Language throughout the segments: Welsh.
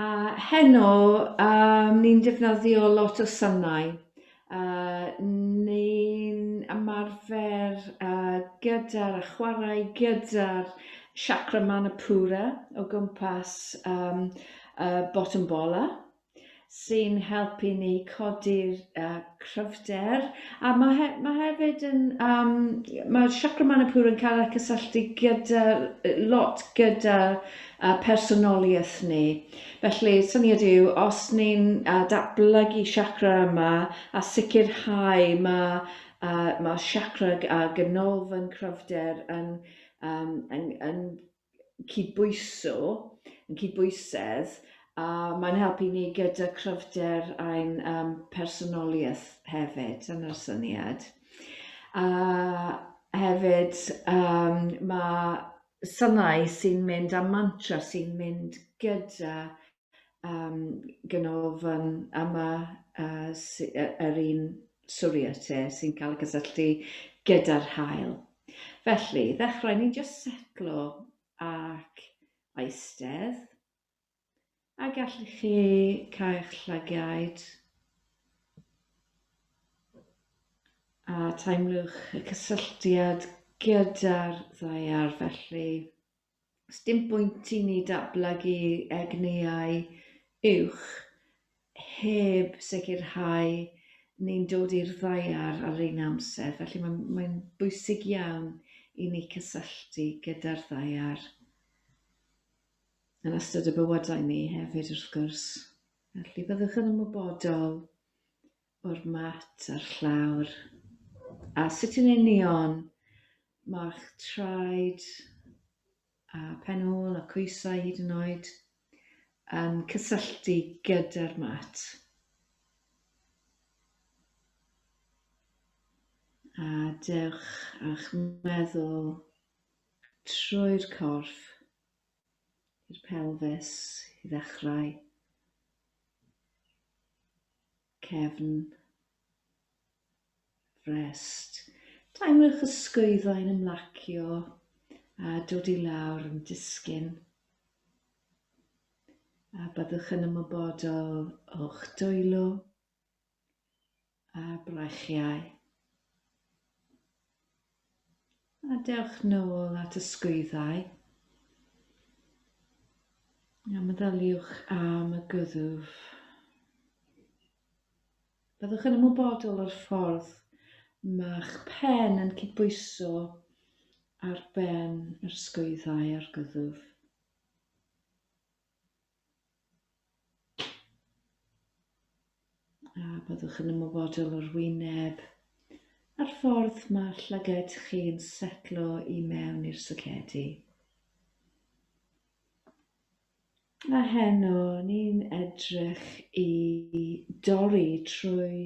A heno um, ni'n defnyddio lot o synau. Uh, ni'n ymarfer uh, gyda'r a chwarae gyda'r chakra manipura o gwmpas um, uh, bottom bola sy'n helpu ni codi'r uh, cryfder, a ma' he- ma' hefyd yn yym ma' Chakra Manipur yn cael ei cysylltu gyda yy lot gyda yy personoliaeth ni. Felly syniad yw os ni'n yy datblygu chakra yma a sicrhau ma' yy ma' chakra a ganolfan cryfder yn yym yn yn cydbwyso, yn cydbwysedd, a mae'n helpu ni gyda cryfder ein um, personoliaeth hefyd, yn yr syniad. A hefyd, um, mae synau sy'n mynd a mantra sy'n mynd gyda um, ganolfan yma uh, sy, uh, yr un swriate sy'n cael y cysylltu gyda'r hael. Felly, ddechrau ni'n just setlo ac aistedd, a gallu chi cael eich llagiaid a teimlwch y cysylltiad gyda'r ddaear felly. Sdim bwynt i ni datblygu egnïau uwch heb sicrhau ni'n dod i'r ddaear ar yr un amser, felly mae'n mae'n bwysig iawn i ni cysylltu gyda'r ddaear yn ystod y bywydau ni hefyd wrth gwrs. Felly byddwch yn ymwybodol o'r mat a'r llawr. A sut yn union mae'ch traed a phenôl a coesau hyd yn oed yn cysylltu gyda'r mat. A dewch â'ch meddwl trwy'r corff i'r pelfis i ddechrau, cefn, frest. Teimlwch y sgwyddau'n ymlacio a dod i lawr yn disgyn. A byddwch yn ymwybodol o'ch dwylo a brachiau. A dewch nôl at y sgwyddau. A meddyliwch am y gyddwf. Byddwch yn ymwybodol o'r ffordd mae'ch pen yn cydbwyso ar ben yr sgwyddau a'r gyddwf. A byddwch yn ymwybodol o'r wyneb a'r ffordd mae'r llyged chi'n setlo i mewn i'r socedi. A heno, ni'n edrych i dorri trwy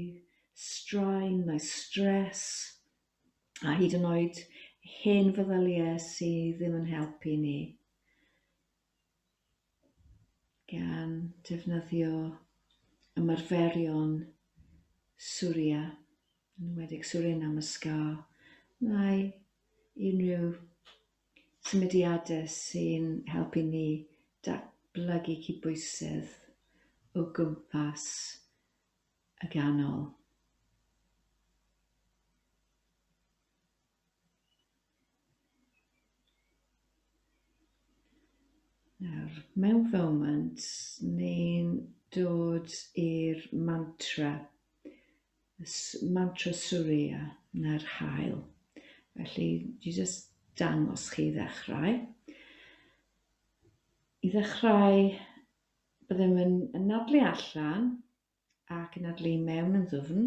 straen, mae stres, a hyd yn oed hen feddyliau sydd ddim yn helpu ni. gan defnyddio ymarferion Surya, yn enwedig Surya Namaskar, neu unrhyw symudiadau sy'n helpu ni datblygu cydbwysedd o gwmpas y ganol. Nawr, mewn foment, ni'n dod i'r mantra, y s- mantra Surya, neu'r haul. Felly, dwi jyst dangos chi i ddechrau. I ddechrau, byddem yn anadlu allan ac anadlu i mewn yn ddwfn.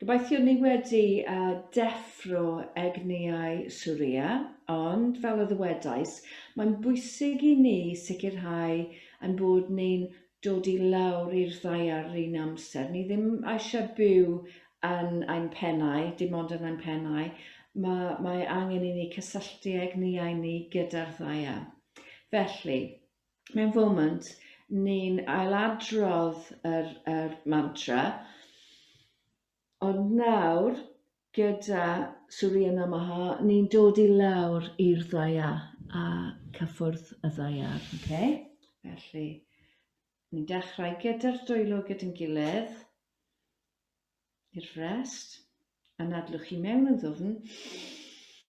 Gobeithio ni wedi deffro egnïau Surya, ond fel y ddywedais, mae'n bwysig i ni sicrhau ein bod ni'n dod i lawr i'r ddaear yr un amser. Ni ddim eisiau byw yn ein pennau, dim ond yn ein pennau, mae, mae angen i ni cysylltu egnïau ni gyda'r ddaear. Felly, mewn foment, ni'n ailadrodd yr, yr mantra, ond nawr, gyda Surya Namaha, ni'n dod i lawr i'r ddaya a cyffwrdd y ddaiar. Okay? Felly, ni'n dechrau gyda'r dwylo gyda'n gilydd, i'r frest, a nadlwch chi mewn yn ddwfn,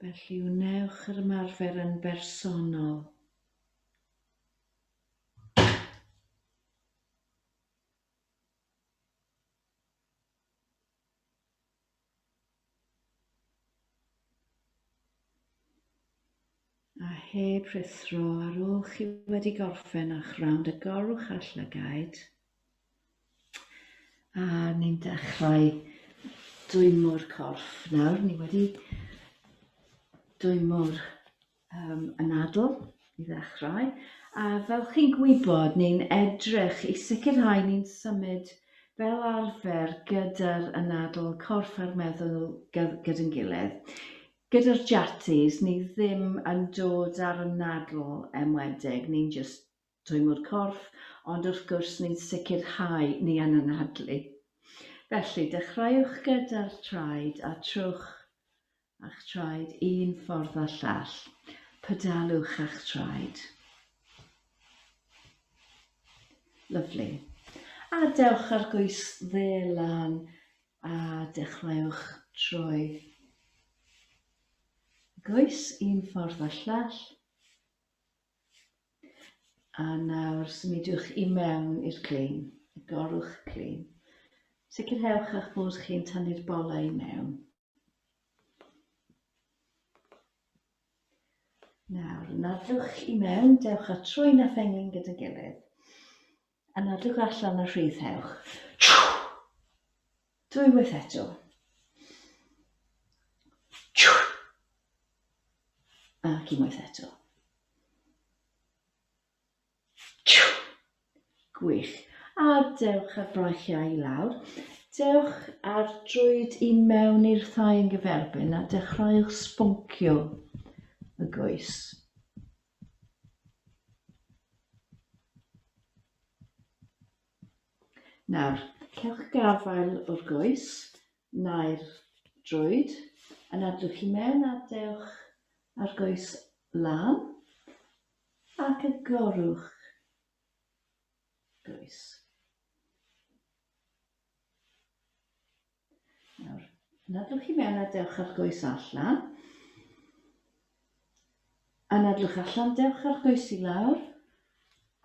Felly wnewch yr ymarfer yn bersonol. A heb rhuthro, ar ôl chi wedi gorffen â'ch rownd agorwch â'r llygaid. A ni'n dechrau dwymo'r corff nawr. Ni wedi dwymo'r um, anadl i ddechrau. A fel chi'n gwybod, ni'n edrych i sicrhau ni'n symud fel arfer gyda'r anadl corff a'r meddwl gyda'n gilydd. Gyda'r Jatties, ni ddim yn dod ar y nadl enwedig, ni'n jyst dwymo'r corff, ond wrth gwrs ni'n sicrhau ni yn anadlu. Felly, dechreuwch gyda'r traed a trowch â'ch traed un ffordd a llall. Pedalwch â'ch traed. Lyfli. A dewch â'r goes dde lan A dechreuwch troi goes un ffordd a llall. A nawr symudiwch i mewn i'r clean, y gorwch clean. Sicrhewch eich bod chi'n tynnu'r bolau i mewn. Nawr, nadwch i mewn, dewch â trwyn a phengin gyda gilydd. Yn edrych allan y rhith hewch. Dwywaith eto. Ac unwaith eto. Gwych. A dewch ar brachiau i lawr. Dewch ar drwyd i mewn i'r thai yn gyferbyn a dechrauwch sboncio y goes. Nawr, cewch gafael o'r goes neu'r droed, yn adwch i mewn a dewch â'r goes lan ac agorwch goes. Nawr, nadwch i mewn a dewch ar goes allan. A nadwch allan, dewch ar goes i lawr.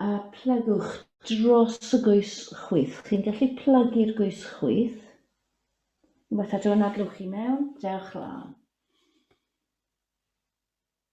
A plygwch dros y goes chwyth. Chi'n gallu plygu'r goes chwyth. Unwaith eto, nadwch i mewn, dewch lan.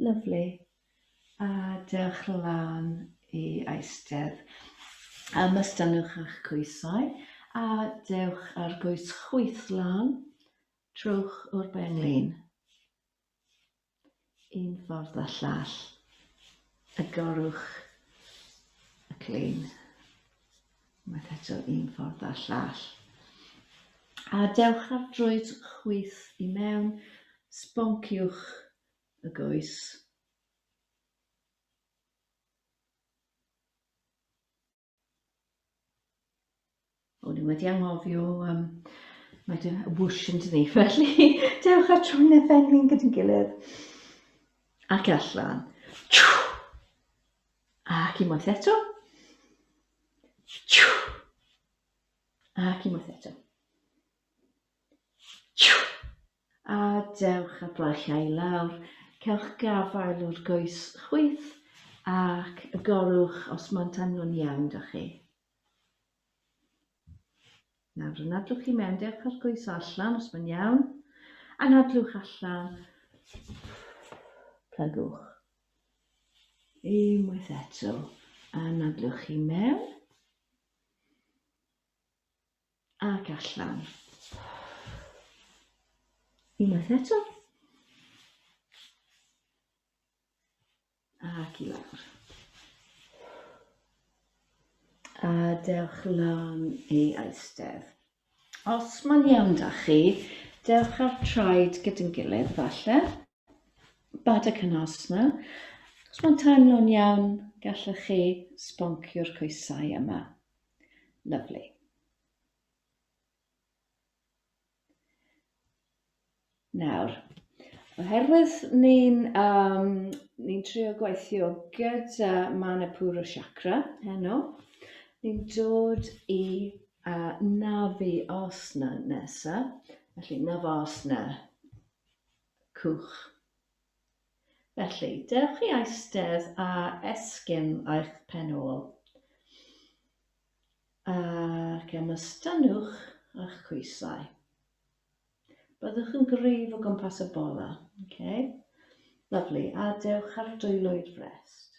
Lyfli. A diolch lan i Eisteddfd am estynnwch ych coesau a dewch â'r goes chwith lan trowch o'r benglin. Un ffordd a llall. Agorwch y clean. Mae eto un ffordd a llall. A dewch ar droed chwith i mewn, sbonciwch y goes. O'n i wedi anghofio um, mae dy wwsh yn dydi, felly dewch ar trwy na ddengyn gyda'n gilydd. Ac allan. Ac i moeth eto. Ac i moeth eto. A dewch a blaicha i lawr, cewch gafael o'r goes chwith ac y gorwch os maent am nhw'n iawn 'da chi. Nawr anadlwch i mewn, dewch â'r goes o allan os mae'n iawn. Anadlwch allan. Plygwch. Unwaith eto, anadlwch i mewn. Ac allan. Unwaith eto. Ac i lawr. A dewch lan i eistedd. Os mae'n iawn da chi, dewch ar traed gyda'n gilydd, falle. bad y cynos yma. Os mae'n teimlo'n iawn, gallwch chi sboncio'r coesau yma. Lovely. Nawr, oherwydd ni'n um, ni trio gweithio gyda Manipura Chakra heno, ni'n dod i uh, Navi Asana nesa, felly Navasana. cwch. Felly, dewch i eistedd a esgyn eich pen ôl, ac ymystynnwch â'ch coesau. Byddwch yn gryf o gwmpas y bola. Okay. Lovely. A dewch ar dwylo i'r frest.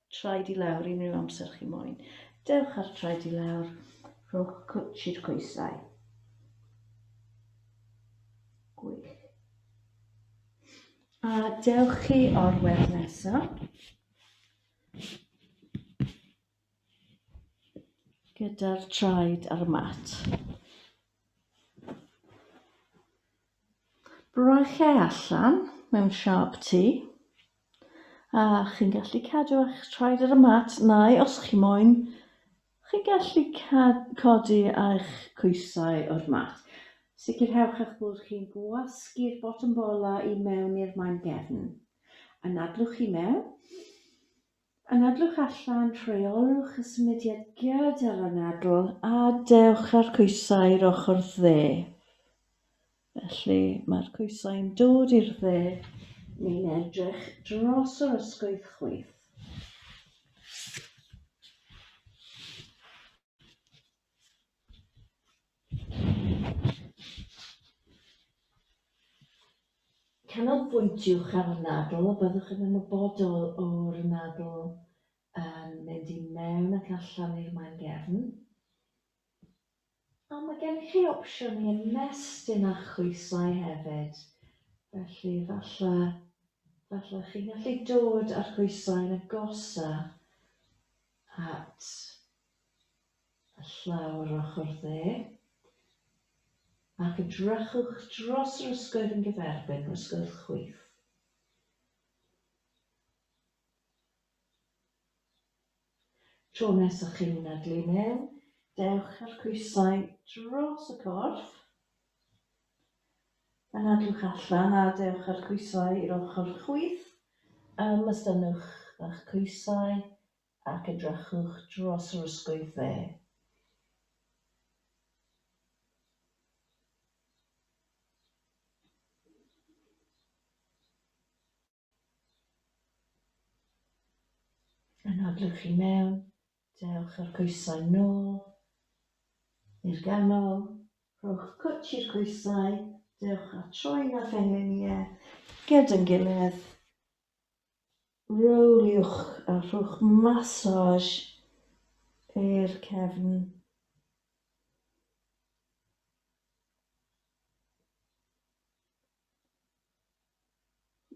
Traed i lawr unrhyw amser chi moyn. Dewch ar traed i lawr, rhowch cwtsh i'r coesau. Gwych. A dewch chi o'r wedd nesaf. Gyda'r traed ar y mat. Braciau allan mewn siâp T, a chi'n gallu cadw eich traed ar y mat, neu os chi moyn, chi'n gallu codi eich coesau o'r mat. Sicrhewch eich bod chi'n gwasgu'r botwm bolau i mewn i'r maen gefn. Anadlwch i mewn. Yn edrych allan, rheolwch y symudiad giât ar anadl a dewch â'r coesau i'r ochr dde. Felly, mae'r coesau'n dod i'r dde, ni'n edrych dros yr ysgwydd chwith. Canolbwyntiwch ar y nadl, byddwch yn ymwybodol o'r nadl yn mynd i mewn ac allan i'r maen gefn. A mae gennych chi opsiwn i ymestyn â'ch chwisau hefyd, felly falle, falle chi'n gallu dod â'r chwisau yn agosa at y llaw yr ochr dde, ac edrychwch dros yr ysgwydd yn gyferbyn yr ysgwydd chwith. Tro nes a chi'n mynadlu mewn, dewch â'r coesau dros y corff, Anadlwch allan a dewch â'r coesau i'r ochr chwith. Ymystynwch â'ch coesau ac edrychwch dros yr ysgwydd dde. Anadlwch i mewn, dewch o'r coesau nôl i'r ganol, rhowch cwtch i'r coesau, dewch a troi'n a phengliniau gyd yn gilydd. Rowliwch a rhowch massage i'r cefn.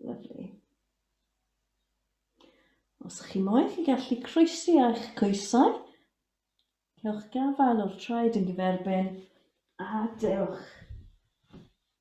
Lyfli. Os ych chi moyn, chi gallu croesi a'ch coesau. Cewch gafael o'r traed yn gyferbyn a dewch.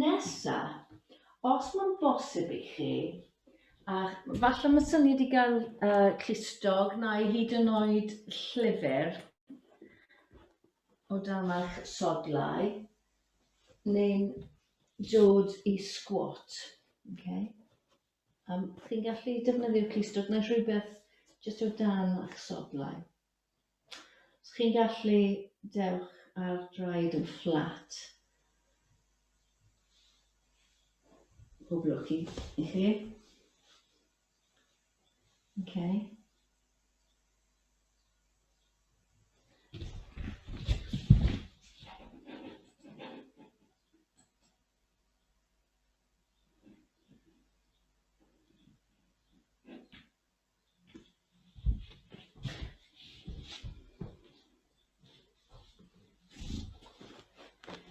Nesa, os ma'n bosib i chi, a falle ma' syni di ga'l yy clustog neu hyd yn oed llyfyr o dan eich sodlau, neu'n dod i sgwot, ocê? Yym chi'n gallu defnyddio clustog neu rhywbeth jyst o dan eich sodlau. Os chi'n gallu, dewch â'r draed yn fflat. Pob lwc i i chi. Oce.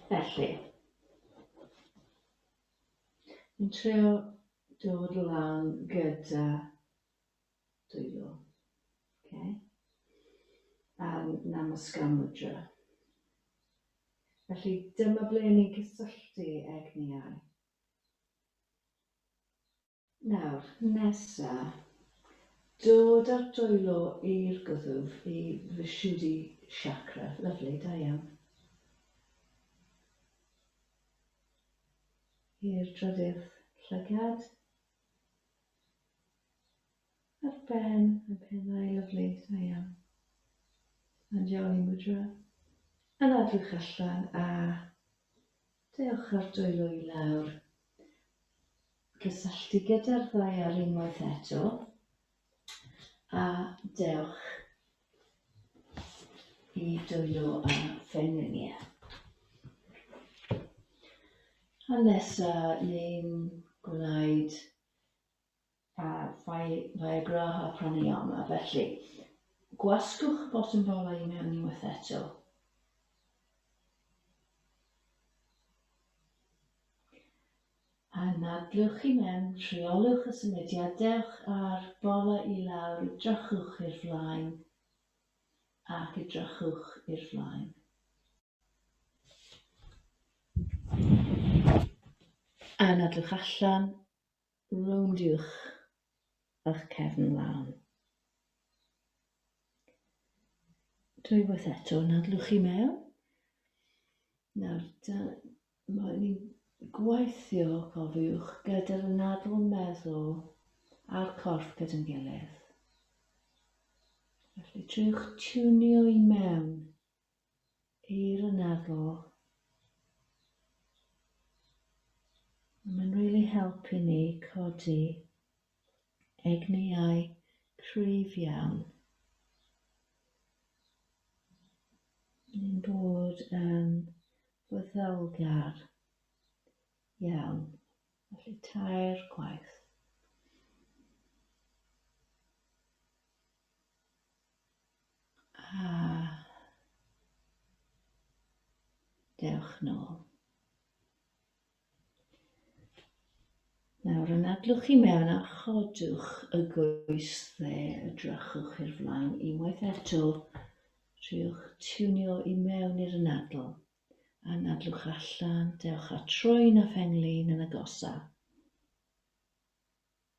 Felly, yn trio dod lan gyda dwylo. Okay. A'n namasgar mudra. Felly dyma ble ni'n cysylltu egniau. Nawr, nesa, dod a'r dwylo i'r gwddf i Vishuddhi Chakra. Lyfli, da iawn. I'r drydydd llygad. A'r ben, y penau, lyfli, da iawn. Anjali Mudra. Yn adwch allan a dewch ar dwylo i lawr. cysylltu gyda'r ddaear unwaith eto a dewch i dwylo a phengliniau. A nesa ni'n gwneud a Viagra a pranayama, felly gwasgwch botwm bolau i mewn unwaith eto. Yn nadlwch i mewn, rheolwch y symudiad dewch a'r bola i lawr, edrychwch i'r flaen ac edrychwch i'r flaen. A nadwch allan, rowndiwch ych cefn lan. Dwywaith eto, nadlwch i mewn. Nawr, Mae ni'n gweithio, cofiwch, gyda'r nadl meddwl a'r corff gyda'n gilydd. Felly triwch tiwnio i mewn i'r anadl. Mae'n rili really helpu ni codi Egnïau cryf iawn. Ni'n bod yn fyddylgar iawn. Felly tair gwaith. A dewch nôl. Nawr, anadlwch i mewn a chodwch y goes dde, edrychwch i'r flaen unwaith eto, rhywch tiwnio i mewn i'r anadl, anadlwch allan, dewch â troen a phen-lin yn agosaf.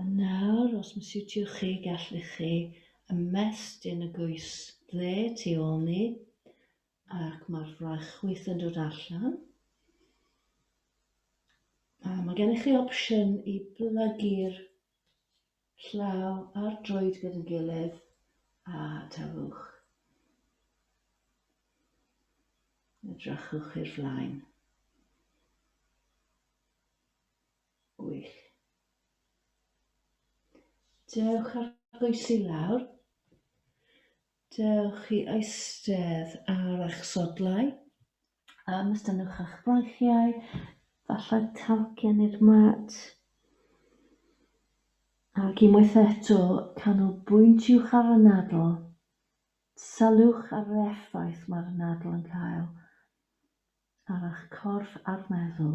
A nawr, os mae'n siwtio chi, gallwch chi ymestyn y goes dde tu ôl ni, ac mae'r frachwyth yn dod allan. A mae gennych chi opsiwn i blygu'r Llaw ar droed gyda'n gilydd a tafwch. Edrychwch i'r flaen. Gwych. Dewch ar bwys i lawr. Dewch i eistedd ar eich sodlau. Yym estynnwch eich breichiau, falle talcen i'r mat. Ac unwaith eto, canolbwyntiwch ar y nadl. Sylwch ar yr effaith mae'r nadl yn cael ar eich corff a'r meddwl.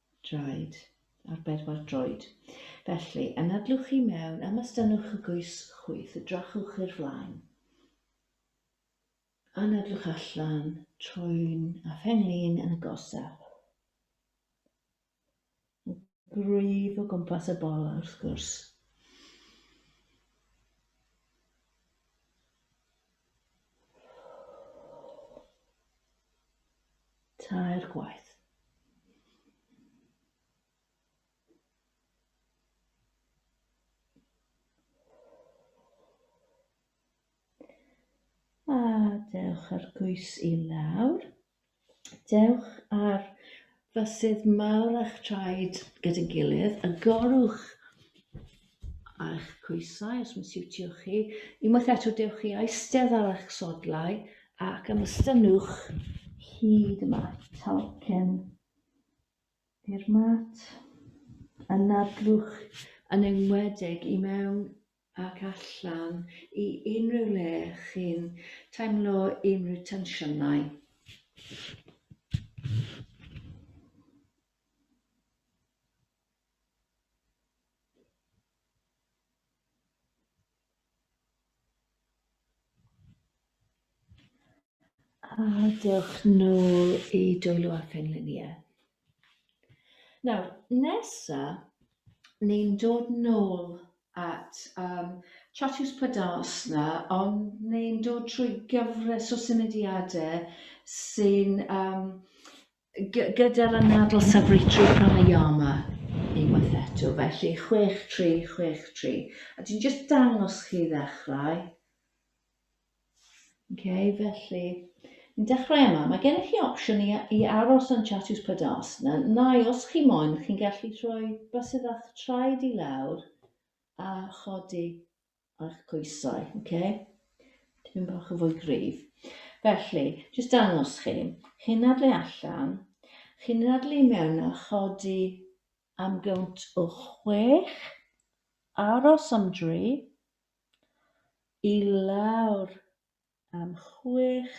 draed, ar bedwar droed. Felly, anadlwch chi mewn, ymastynnwch y goes chwith, edrychwch i'r flaen. Anadlwch allan, troi'n a phenglin yn agosaf. Gwryf o gwmpas y bola, wrth gwrs. Tair gwaith. A dewch ar gwys i lawr. Dewch ar fysydd mawr a'ch traed gyda'i gilydd, agorwch eich coesau os mae'n siwtio chi, unwaith eto dewch chi eistedd ar eich sodlau ac ymystynnwch hyd y mat, talcen i'r mat, ynadlwch yn enwedig i mewn ac allan i unrhyw le chi'n teimlo unrhyw tensiynau. A dewch nôl i dwylo a phenlinïau. Nawr, nesa, ni'n dod nôl at um, Chatws Padasna, ond ni'n dod trwy gyfres o symudiadau sy'n um, gyda'r anadl safritri pranayama unwaith eto, felly 6-3, 6-3. A dwi'n just dangos chi ddechrau. Oce, felly, ni'n dechrau yma. Mae gennych chi opsiwn i, i aros yn Chatws Padas. Na, nai, os chi moyn, chi'n gallu troi basydd a'ch traed i lawr a chodi a'ch coesau, oce? Okay? Tipyn bach o fwy gryf. Felly, jyst dangos chi, chi'n adlu allan, chi'n adlu mewn a chodi am gynt o chwech, aros am dri, i lawr am chwech,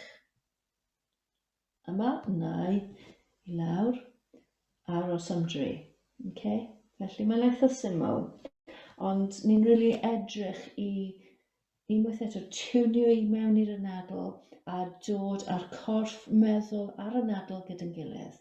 yma, nai, i lawr, aros am dri. Okay? Felly mae'n eitha syml, ond ni'n really edrych i unwaith eto tunio i mewn i'r anadl a dod â'r corff meddwl a'r anadl gyda'n gilydd.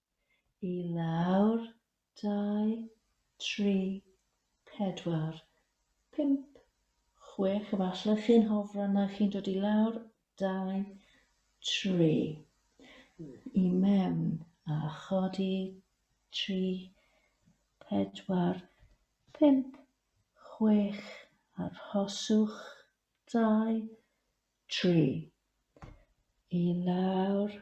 I lawr, dau, tri, pedwar, pump, chwech, efallai chi'n hofran na chi'n dod i lawr, dau, tri, i mewn, a chodi, tri, pedwar, pump, chwech, arhoswch, dau, tri, i lawr,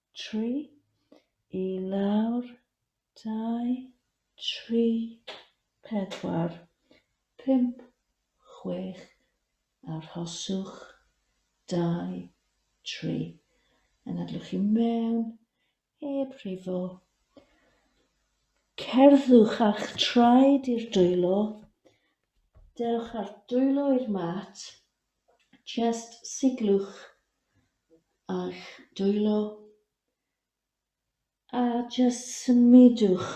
Tri, i lawr, dau, tri, pedwar, pump, chwech, arhoswch, dau, tri, anadlwch i mewn, heb rifo, cerddwch a'ch traed i'r dwylo, dewch â'r dwylo i'r mat, Jyst siglwch â'ch dwylo a jyst symudwch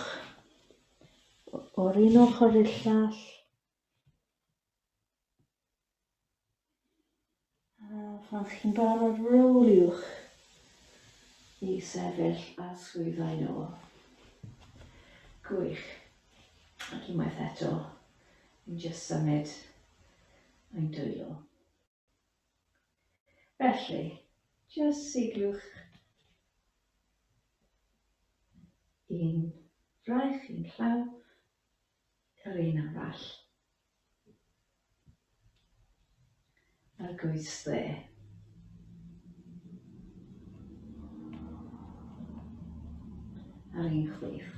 o'r un ochr i'r llall. A phan chi'n barod rowliwch i sefyll a swyddfa i nôl. Gwych. Ac unwaith eto, ni'n jyst symud a'i dwylo. Felly, jyst sigliwch un fraich i'n llaw yr un arall. A'r goes dde. A'r un chwith.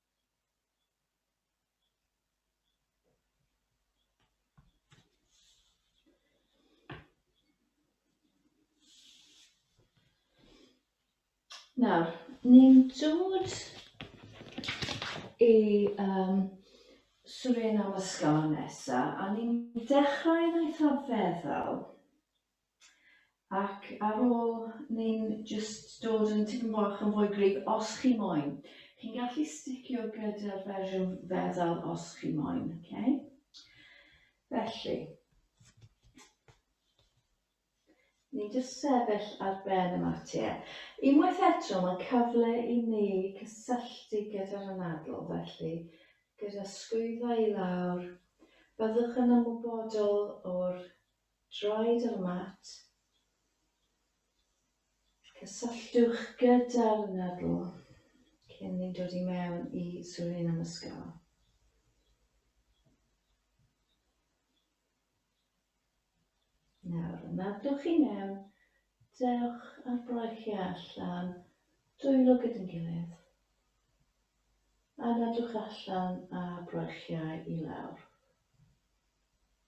Nawr, ni'n dod i um, Suriname ysgol nesa, a ni'n dechrau yn eitha feddal. Ac ar ôl, ni'n jyst dod yn tipyn bach yn fwy gryf, os chi moyn. Chi'n gallu sticio gyda'r fersiwn feddal os chi moyn, okay? Felly, ni'n jyst sefyll ar ben y matie. Unwaith eto, mae cyfle i ni cysylltu gyda'r anadl, felly gyda sgwyddau i lawr, byddwch yn ymwybodol o'r Draed ar mat, cysylltwch gyda'r nadl cyn ni dod i mewn i swyni am ysgol. Nawr, yn adlwch chi mewn, dewch ar braich i allan, dwylo gyda'n gilydd. A nadwch allan a braichiau i lawr.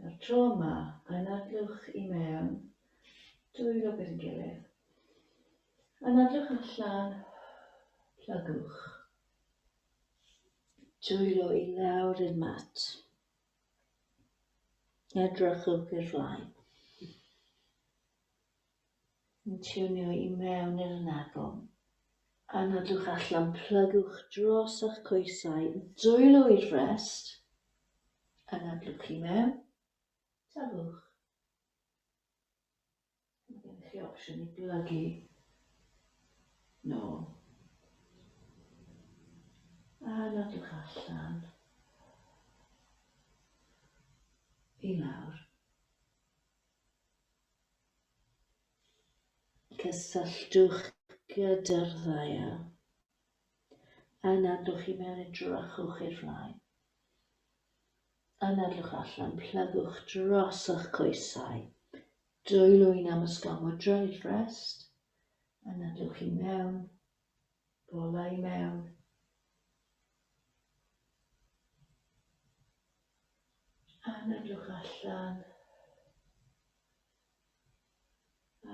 Mae'r tro yma yn adlewch i mewn, dwylo gyda'n gilydd. Yn adlewch allan, plygwch. Dwylo i lawr i'r mat. Edrychwch i'r flaen. yn tiwnio i mewn i'r ynadon. A nodwch allan, plygwch dros a'ch coesau, dwylo i'r frest, anadlwch i mewn, tafwch. Mae gennych chi opsiwn i blygu nôl. A nodwch allan. I lawr. Cysylltwch gyda'r ddaear. Anadlwch i mewn i drychwch i'r flaen. Anadlwch allan, plygwch dros o'ch coesau. Dwylwyn am ysgafod dryll, rest. Anadlwch i mewn, Bolau mewn. A myndwch allan.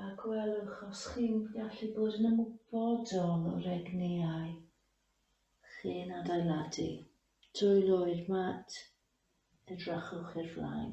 A gwelwch os chi'n gallu bod yn ymwybodol o'r egni ai chi'n adeiladu. Dwyloi'r mat, edrychwch i'r flaen.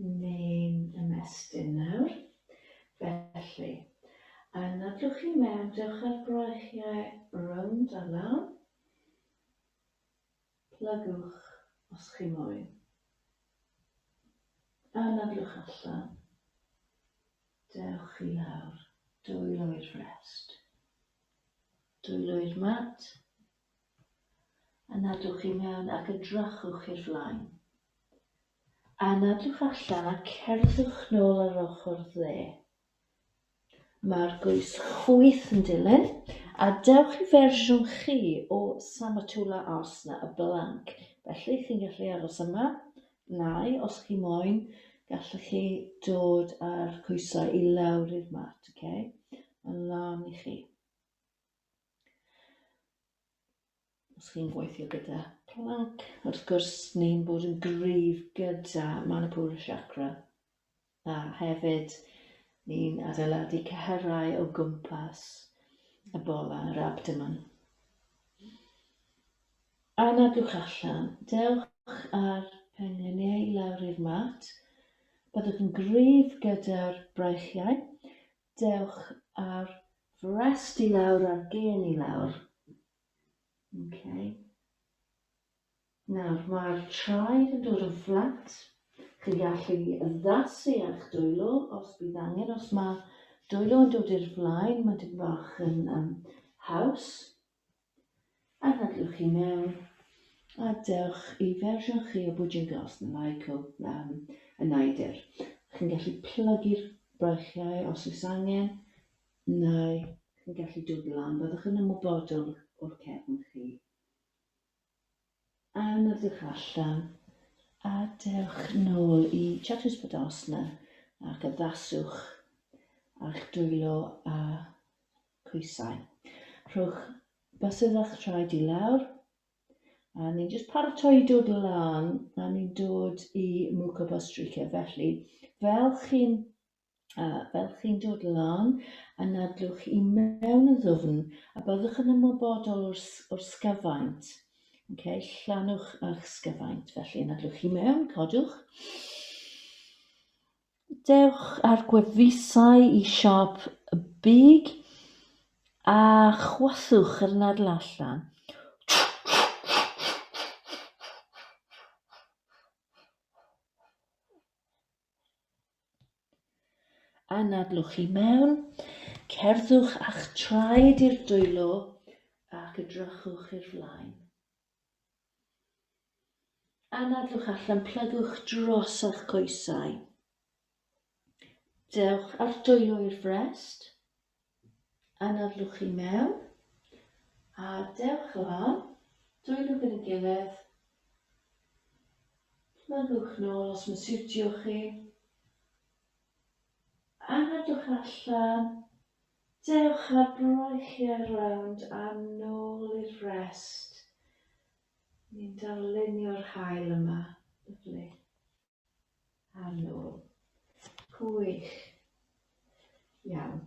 neu'n ymestyn nawr. Felly, yn nadwch chi mewn, dewch â'r gwreichiau rownd a lawr. Plygwch os chi moyn. A nadwch allan. Dewch i lawr, dwylo i'r rest. Dwylwyd mat, a nadwch i mewn ac edrychwch i'r flaen. A nadwch allan a cerddwch nôl ar ochr dde. Mae'r gwys chwith yn dilyn, a dewch i fersiwn chi o Samatula Arsna y Blanc, felly chi'n gallu aros yma, nai, os chi moyn, gallwch chi dod â'r coesau i lawr i'r mat, ok? Mae'n lan i chi. Os chi'n gweithio gyda plank, wrth gwrs, ni'n bod yn gryf gyda Manipura Chakra. A hefyd, ni'n adeiladu cyhyrau o gwmpas y bola yr abdomen. A nadwch allan, dewch ar pengliniau lawr i'r mat. Byddwch yn gryf gyda'r braechiau, Dewch â'r frest i lawr a'r gên i lawr. Ok. Nawr, mae'r traed yn dod yn fflat. Chi'n gallu addasu a'ch dwylo os bydd angen. Os mae dwylo yn dod i'r flaen, mae dim bach yn um, haws. Anadlwch i mewn, a dewch i fersiwn chi o Bwdin Glas na Michael um, y Naidr. Chi'n gallu plygu'r brachiau os oes angen, neu chi'n gallu dod lan, byddwch yn ymwybodol o'r cefn chi. Am edrych allan, a dewch nôl i Chatws Podosna ac addaswch a'ch dwylo a coesau. Rhowch bysedd a'ch traed i lawr, a ni'n just paratoi i dod lan, a ni'n dod i Muka Bostrica. Felly, fel chi'n a fel chi'n dod lan, anadlwch i mewn yn ddwfn, a byddwch yn ymwybodol o'r, o'r sgyfaint. Okay, llannwch a'ch sgyfaint, felly anadlwch i mewn, codwch. Dewch ar gwefusau i siop y big, a chwaswch yr nadl allan. Anadlwch i mewn, cerddwch a'ch traed i'r dwylo ac edrychwch i'r flaen. Anadlwch allan, plygwch dros a'ch coesau. Dewch â'r dwylo i'r frest. Anadlwch i mewn a dewch lan, dwynwch yn y gilydd, plygwch nôl os mae'n siwtio chi, anadlwch allan, dewch ar breichiau rownd a nôl i'r rest. Ni'n darlunio'r haul yma, lyfli. Ar nôl. Gwych. Iawn.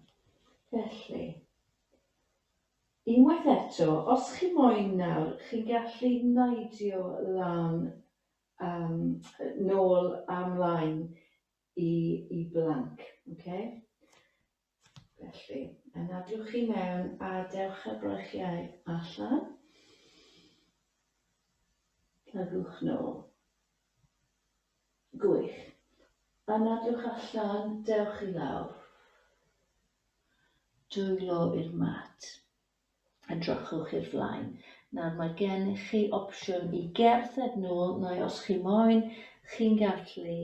Felly, unwaith eto, os chi moyn nawr, chi'n gallu neidio lan, um, nôl a mlaen i, i blanc. Okay? Felly, yn adwch i mewn a dewch â'r breichiau allan. Plygwch nôl. Gwych. Anadwch allan, dewch i lawr. Dwylo i'r mat. Edrychwch i'r flaen. Nawr mae gennych chi opsiwn i gerdded nôl neu os chi moyn, chi'n gallu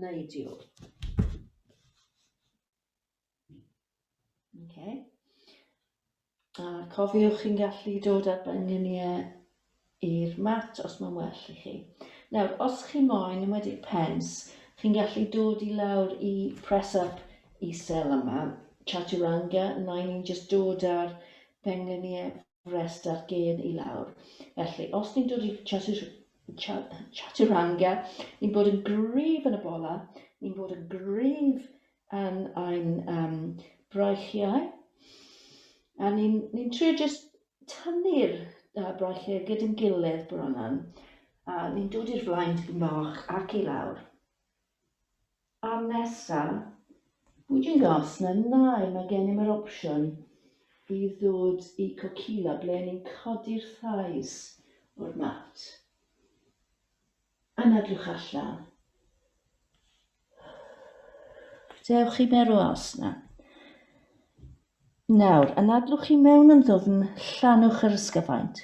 neidio. Okay. A cofiwch chi'n gallu dod â'r benyniau i'r mat os mae'n well i chi. Nawr, os chi moyn, yn wedi pens, chi'n gallu dod i lawr i press up i sel yma, chaturanga, yna ni'n just dod â'r pengliniau rhestr gêm i lawr. Felly, os ni'n dod i Chaturanga, ni'n bod yn gryf yn y bola, ni'n bod yn gryf yn ein um, braichiau, a ni'n ni trio jyst tynnu'r uh, braichiau gyda'n gilydd bron yn, a ni'n dod i'r flaen tipyn bach ac i lawr. Cam nesa, bwydy'n gas na nai, mae gennym yr opsiwn i ddod i Kokila ble ni'n codi'r thighs o'r mat. Anadlwch allan. Dewch i mewn o asna. Nawr, anadlwch i mewn yn ddwfn, llanwch yr ysgyfaint.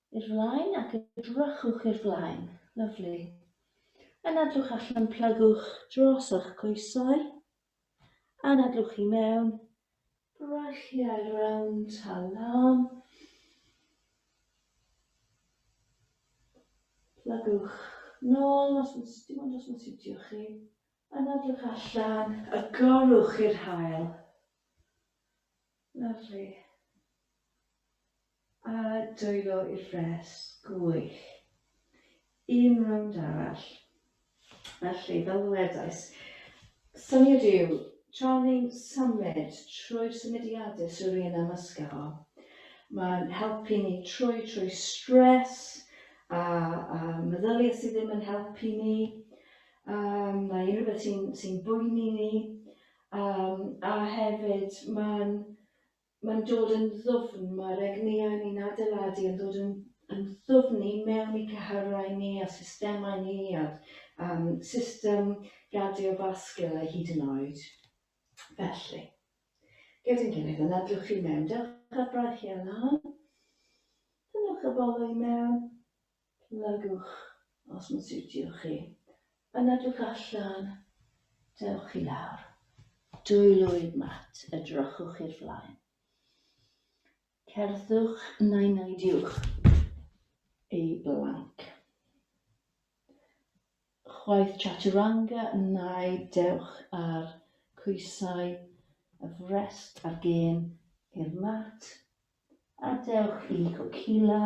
I'r flaen ac edrychwch i'r flaen. Lyfli. Anadlwch allan, plygwch dros ych coesau. Anadlwch i mewn. Brylliau rownd a lan. Plygwch nôl os yn dim ond os yn siwtio chi. Anadlwch allan, agorwch i'r hael. Lyfli. A dwylo i'r frest. Gwych. Un rownd arall. Felly, fel ddwedais, syniad yw, tra ni'n symud trwy'r symudiadau sy'n rhywun am ysgaw, mae'n helpu ni trwy trwy stres a, a meddyliau sydd ddim yn helpu ni, um, neu unrhyw beth sy'n sy boeni ni, Yym, a hefyd, mae'n, mae'n dod yn ddwfn, mae'r egnïau ni'n adeiladu yn dod yn yn ddwfn i mewn i cyhyrau ni a systemau ni a um, system gardiofascular hyd yn oed. Felly, gyda'n gilydd yn adwch chi mewn, dewch ar braich iawn lan, dynwch y bol i mewn, Plygwch os mae'n siwtio chi. Yna edrych allan, dewch i lawr. Dwy lwyd mat, edrychwch i'r flaen. Cerddwch neu neidiwch ei blanc. Chwaith chaturanga neu dewch ar coesau y frest ar gêm i'r mat A dewch i Cwcila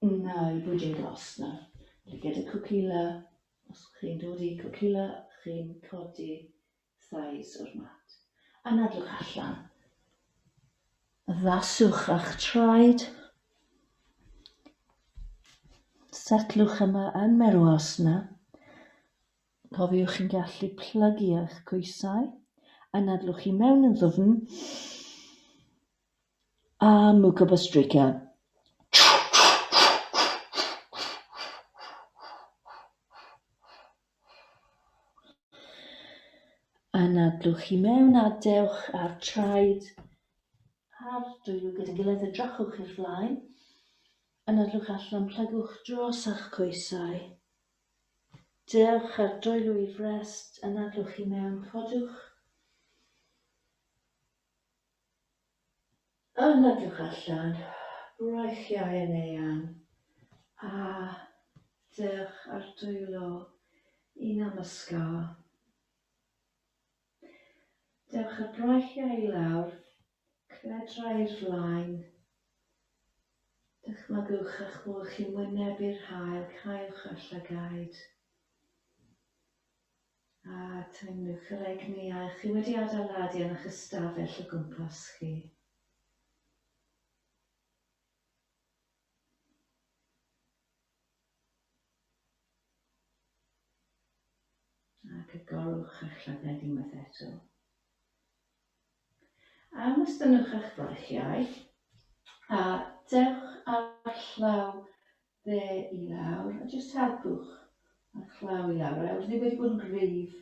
neu Bwdin Glasna. Lygad y Cwcila, os chi'n dod i Cwcila chi'n codi thais o'r mat. Anadlwch allan, addaswch a'ch traed, setlwch yma yn Meruasna. Cofiwch chi'n gallu plygu eich coesau, anadlwch i mewn yn ddwfn. A Mucobostrycia. Anadlwch i mewn a dewch â'r traed a'r dwylo gyda'i gilydd a drachwch i'r flaen. Anadlwch allan, plygwch dros a'ch coesau. Dewch â'r dwylo i frest, anadlwch i mewn, codwch. Yn edrych allan, roedd Iau yn eang, a dewch ar dwylo i Namaskar. Dewch â'r braich Iau i lawr, cledra i'r flaen, dychmygwch eich bod chi'n wynebu'r haul, caewch eich llygaid. A teimlwch yr egni a ych chi wedi adeiladu yn eich ystafell o gwmpas chi. agorwch eich llygad unwaith eto. A ymwstynnwch eich brychiau a dewch â'r llaw fe i lawr a jyst helpwch a'r chlaw i lawr. Nawr, ni wedi bod yn gryf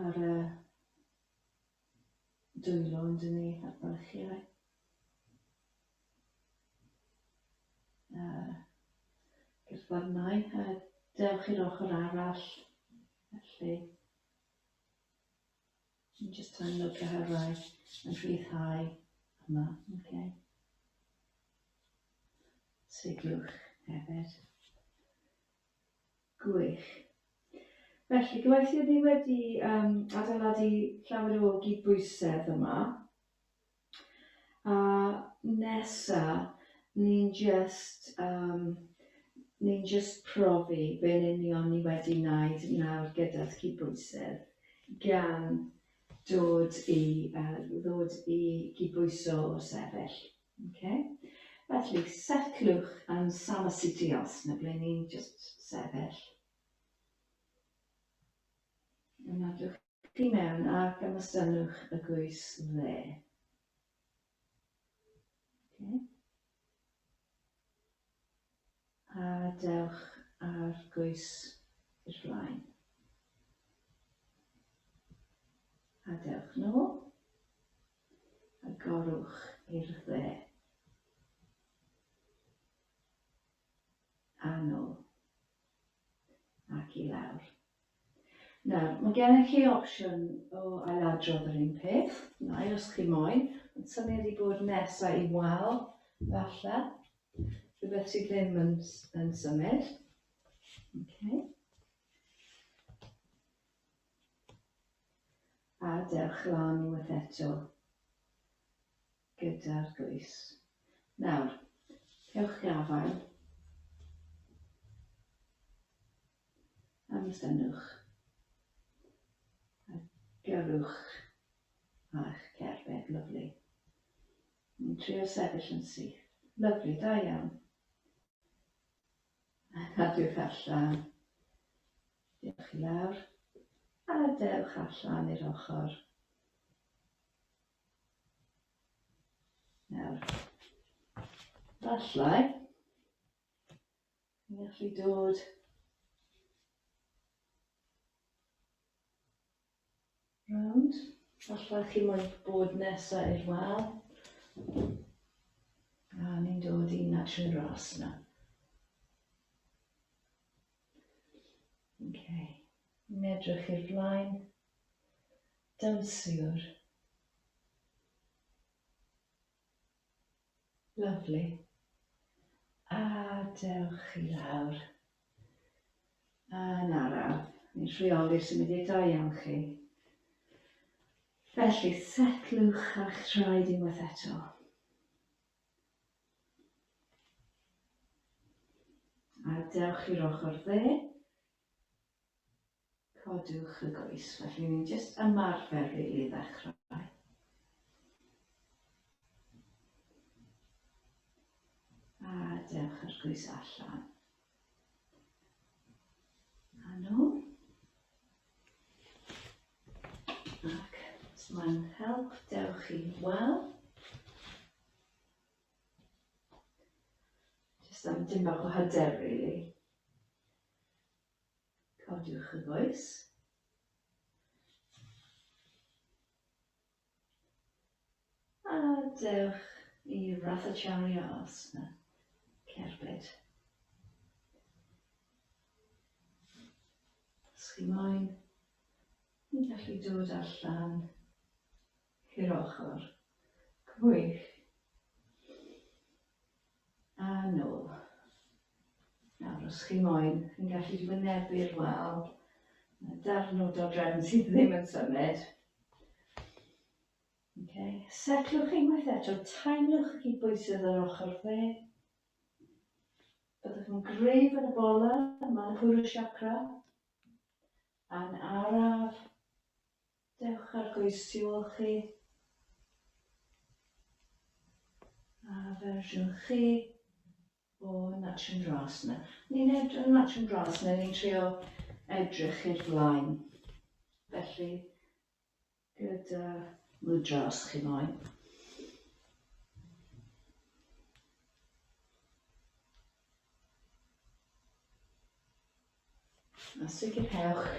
ar y dwylo yn dyn ni, a'r bylchiau. Uh, Gyrfarnau, a dewch i'r ochr arall, felly. Dwi'n just yn look ar her rai yn rhyddhau yma, okay. Siglwch hefyd. Gwych. Felly, gwaith i ni wedi um, adeiladu llawer o gydbwysedd yma. A nesa ni'n jyst yym ni'n jyst profi be'n union ni wedi wneud nawr gyda'r cydbwysedd, gan dod i yy ddod i gydbwyso o'r sefyll, ocê? Felly, setliwch yn Sama City Os 'na ble ni'n jyst sefyll. i mewn a gymestynnwch y gwys dde. Okay. A dewch ar gwys i'r flaen. A dewch nôl. A gorwch i'r dde. A nôl. Ac i lawr. Nawr, mae gennych chi opsiwn o ailadrodd yr un peth, neu os chi moyn, ond syniad i bod nesaf i wal, falle, rhywbeth sydd ddim yn, yn symud. Okay. A dewch lan unwaith eto gyda'r glwys. Nawr, cewch gafael. am y synnwch a gyrrwch â'ch cerbyd, lyfli. Ni'n trio sefyll yn syth. Lyfli, da iawn. A cadwch allan. Diolch i lawr. A dewch allan i'r ochr. Nawr, falle, Ni'n gallu dod rownd. Alla chi moyn bod nesa i'r wal. A ni'n dod i natural grass yna. Okay. Ni'n edrych i'r flaen. Dansiwr. Lyfli. A dewch i lawr. A yn araf, ni'n rheoli'r symuddiau da iawn chi. Felly, setlwch a'ch traed unwaith eto. A dewch i'r ochr dde. Codwch y goes, felly ni'n jyst ymarfer rili i ddechrau. A dewch yr goes allan. A nhw. Ac os mae'n help, dewch i wel. Jyst am dim bach o hyder, really. Codiwch y goes. A dewch i rathachario os na cerbyd. Os chi moyn, ni'n gallu dod allan I'r ochr. Gwych. A nôl. Nawr, os chi moyn, chi'n gallu wynebu'r wal. Mae darn o dodrefn sydd ddim yn symud. Okay. Setlwch unwaith eto, taenwch y cydbwysydd yr ochr dde. Byddwch yn gref yn y bola, Manipura Chakra. A'n araf, Dewch ar goes tu ôl chi. A fersiwn chi o Natch and Grass yna. Ni'n edrych yn Natch and Grass yna, ni'n trio edrych i'r flaen. Felly, gyda mudra os chi moyn. A sicrhewch,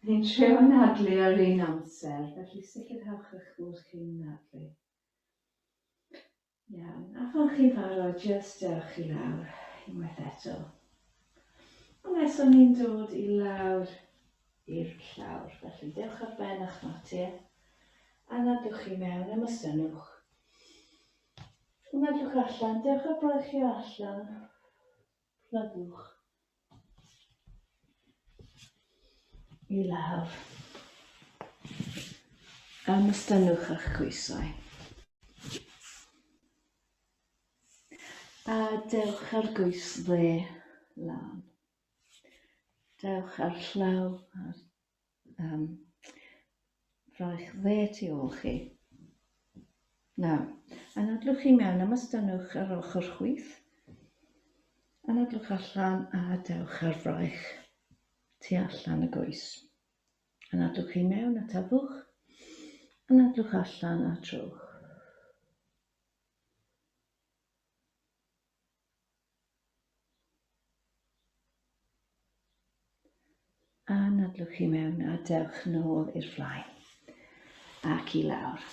ni'n trio anadlu ar un amser, felly sicrhewch eich bod chi'n anadlu. Iawn, a phan chi'n barod, jyst dewch chi lawr unwaith eto. Unwaith o'n ni'n dod i lawr i'r llawr, felly dewch ar ben a'ch mater, anadwch chi mewn, ymwysynwch. Anadwch allan, dewch ar broechio allan, Plygwch i lawr. Ymystynnwch a'ch coesau. A dewch ar goes dde lan. Dewch ar llaw ar Yym, rhoi'ch dde tu ôl chi. Nawr, anadlwch i mewn a mastynwch yr ochr chwith. Anadlwch allan a dewch ar fraich tu allan y goes. Anadlwch i mewn a tafwch. Anadlwch allan a trowch. A nadlwch i mewn a dewch nôl i'r flaen ac i lawr.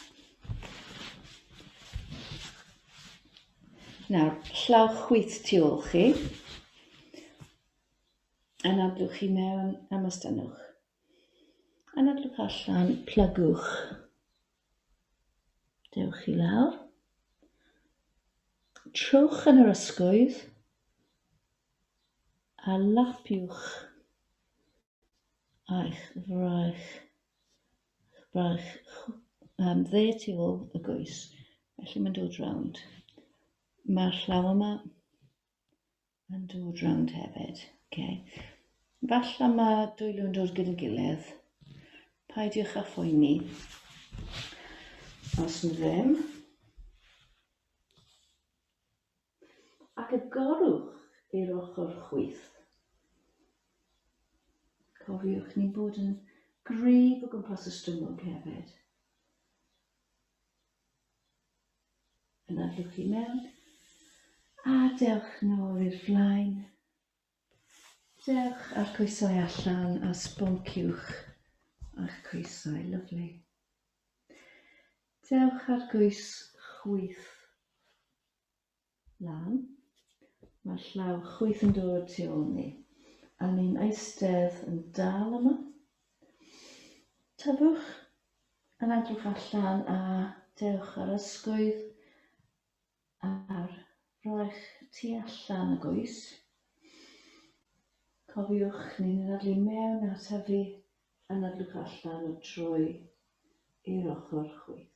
Nawr, llaw chwith tu ôl chi. Anadlwch chi mewn a mostynwch. Anadlwch allan, plygwch Dewch i lawr. Trowch yn yr ysgwydd a lapiwch a'ch fraich, braich um, dde tu ôl y goes. Felly mae'n dod rownd. Mae'r llaw yma Yn dod rownd hefyd. Oce. Falla ma dwy lwyn dod gyda'i gilydd. Paidiwch â phoeni. Os nhw ddim. Ac agorwch i'r ochr chwith. Cofiwch ni'n bod yn gryf o gwmpas y stumog hefyd. Yna dwch i mewn. A dewch nôl i'r flaen. Dewch a'r coesau allan a sbonciwch a'ch coesau, lyflu. Dewch ar goes chwyth. lan. Mae'r llaw chwith yn dod tu ôl ni. A ni'n eistedd yn dal yma. Tyfwch yn edrych allan a dewch ar ysgwydd ar roech tu allan y goes. Cofiwch, ni'n ddadlu mewn a tyfu yn edrych allan o troi i'r ochr chwith.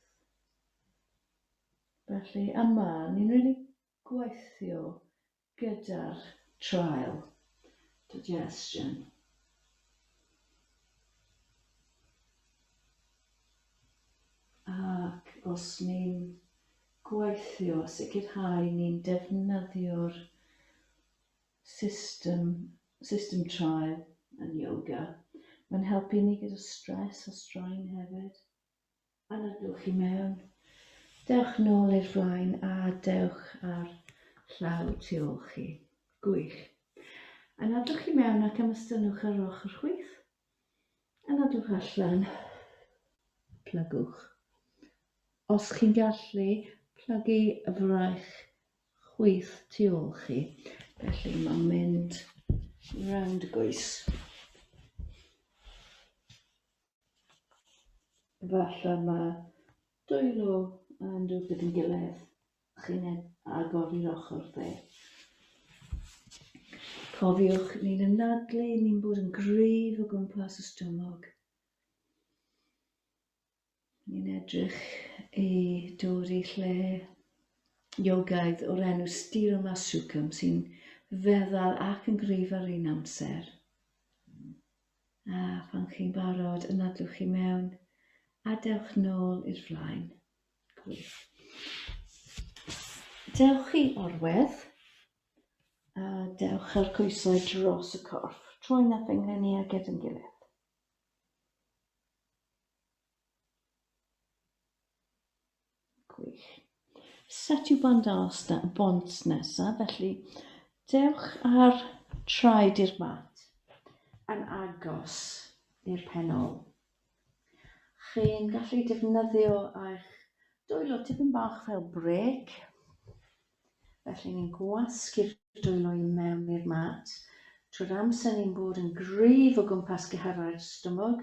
Felly yma, ni'n mynd i gweithio gyda'r trial digestion. Ac os ni'n gweithio, sicrhau ni'n defnyddio'r system, system trial yn yoga. Mae'n helpu ni gyda stress a straen hefyd. Anogwch i mewn. Dewch nôl i'r flaen a dewch ar llaw tu ôl chi. Gwych. Anodwch i mewn ac ymystynnwch ar ochr chwith. Anodwch allan. Plygwch. Os chi'n gallu, plygu y fraich chwith tu ôl chi. Felly mae'n mynd round y goes. Efallai mae dwylo yn dod gyda'n gilydd, chi'n agor i'r ochr dde. Cofiwch, ni'n ymnadlu, ni'n bod yn gryf o gwmpas y stumog. Ni'n edrych i dod i lle iogaidd o'r enw Stiro Masukam sy'n feddal ac yn gryf ar un amser. A phan chi'n barod, ymladwch chi mewn a dewch nôl i'r flaen. Gwych. Dewch chi orwedd a dewch ar coesau dros y corff. Troi'n a phengleni a gyd yn gilydd. Gwych. Set yw bont arall na, bont nesaf, felly dewch ar traed i'r mat yn agos i'r pen ôl. Chi'n gallu defnyddio eich dwylo tipyn bach fel brêc, felly ni'n gwasgu'r dwylo i mewn i'r mat, trwy'r amser ni'n bod yn gryf o gwmpas cyhyrau'r stumog,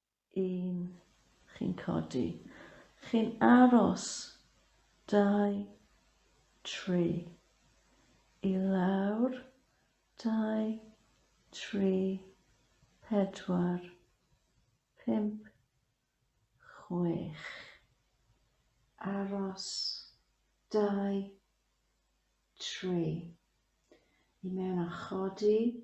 Un, chi'n codi. Chi'n aros. Dau, tri. I lawr. Dau, tri, pedwar, pump, chwech. Aros. Dau, tri. I mewn a chodi.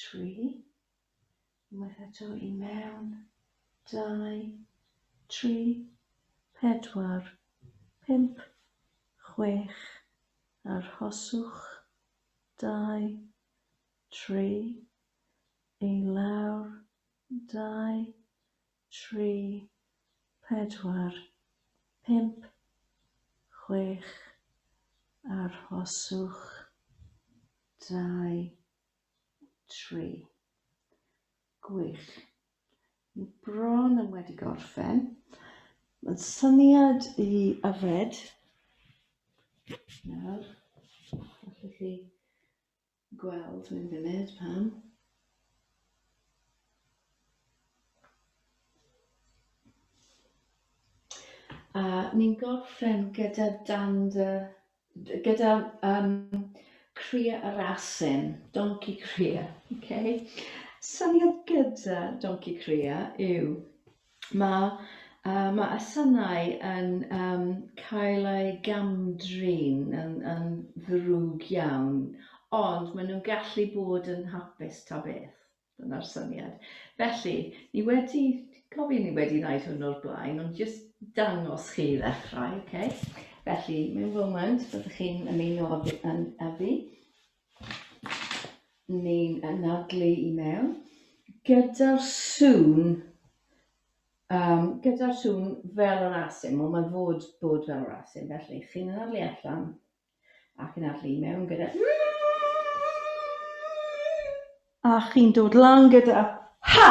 tri, unwaith eto i mewn, dau, tri, pedwar, pump, chwech, arhoswch, dau, tri, i lawr, dau, tri, pedwar, pump, chwech, arhoswch, dau, tri. Gwych. Ni bron yn wedi gorffen. Mae'n syniad i yfed. Nawr, allwch chi Gweld mewn funud pam. A ni'n gorffen gyda dan dy... gyda um, cria a rasyn, donci cria. Okay? Syniad gyda donci cria yw Mae yy ma' y synau yn yym cael eu gam-drin yn yn ddrwg iawn, ond maen nhw'n gallu bod yn hapus ta beth, dyna'r syniad. Felly, ni wedi, cofio ni wedi wneud hwn o'r blaen, ond jyst dangos chi i ddechrau, ok? Felly, mewn foment, byddwch chi'n ymuno â fi, yn, â fi. Ni'n anadlu i mewn. Gyda'r sŵn, um, gyda'r sŵn fel yr asyn, wel mae'n fod bod fel yr asyn, felly chi'n anadlu allan ac yn adlu i mewn gyda... A chi'n dod lan gyda... Ha!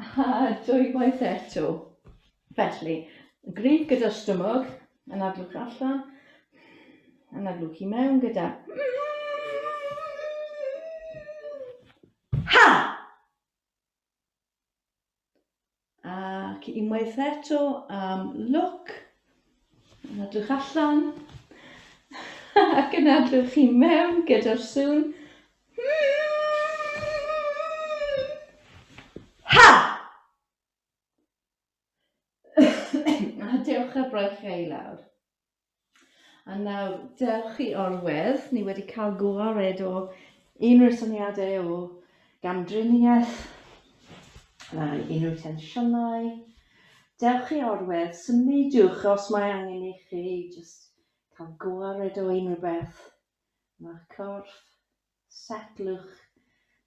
A dwywaith eto. Felly, gryf gyda'r stumog, anadlwch allan, anadlwch i mewn gyda... Ha! Ac unwaith eto am look. Yn adwch allan. Ac yn adwch chi mewn gyda'r sŵn. Ha! A dewch ar braich i lawr. A nawr, dewch i orwedd. Ni wedi cael gwared o unrhyw syniadau o gamdriniaeth, na unrhyw tensiynau. Dewch i orwedd, symudiwch os mae angen i chi, jyst cael gwared o unrhyw beth. Mae'ch corff setlwch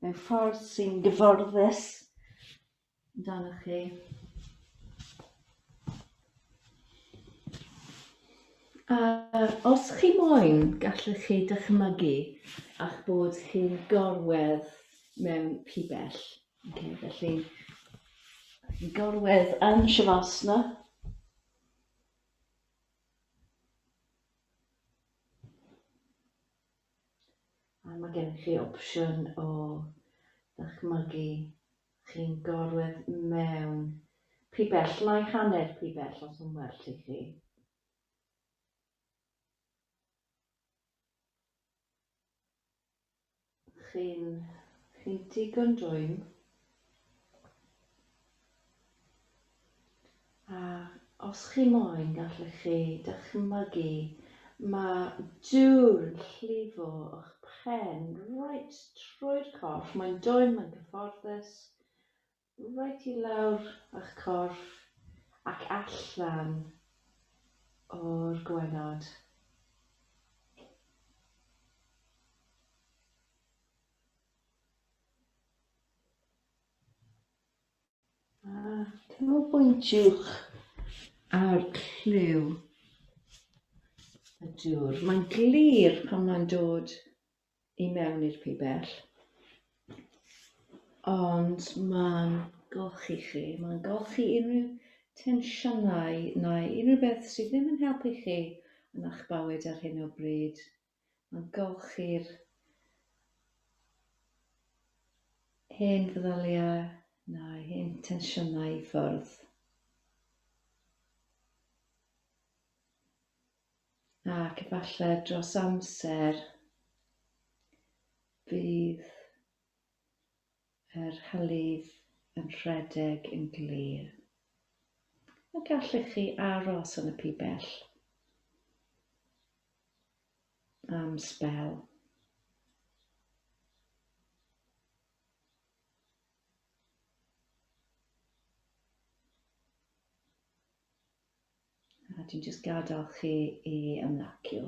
mewn ffordd sy'n gyfforddus amdano chi. A os chi moyn, gallwch chi dychmygu a'ch bod chi'n gorwedd mewn pibell. Okay, felly, gorwedd yn Shavasana. A mae gennych chi opsiwn o ddychmygu chi'n gorwedd mewn pibell, naill hanner pibell os yn well i chi. Chi'n chi digon dwym. A os chi moyn, gallech chi dychmygu, mae dŵr yn llifo o'ch phen reit trwy'r corff, mae'n dwym, mae'n gyfforddus, reit i lawr a'ch corff ac allan o'r gwaelod. A canolbwyntiwch ar lliw y dŵr. Mae'n glir pan mae'n dod i mewn i'r pibell. Ond mae'n golchi chi, mae'n golchi unrhyw tensiynau neu unrhyw beth sydd ddim yn helpu chi yn a'ch bywyd ar hyn o bryd. Mae'n golchi'r hen feddyliau na'i hen tensiynau i ffwrdd. Ac efallai dros amser bydd Yr hylif yn rhedeg yn glir. A gallech chi aros yn y pibell am sbel. A dwi'n jyst gadael chi i ymlacio.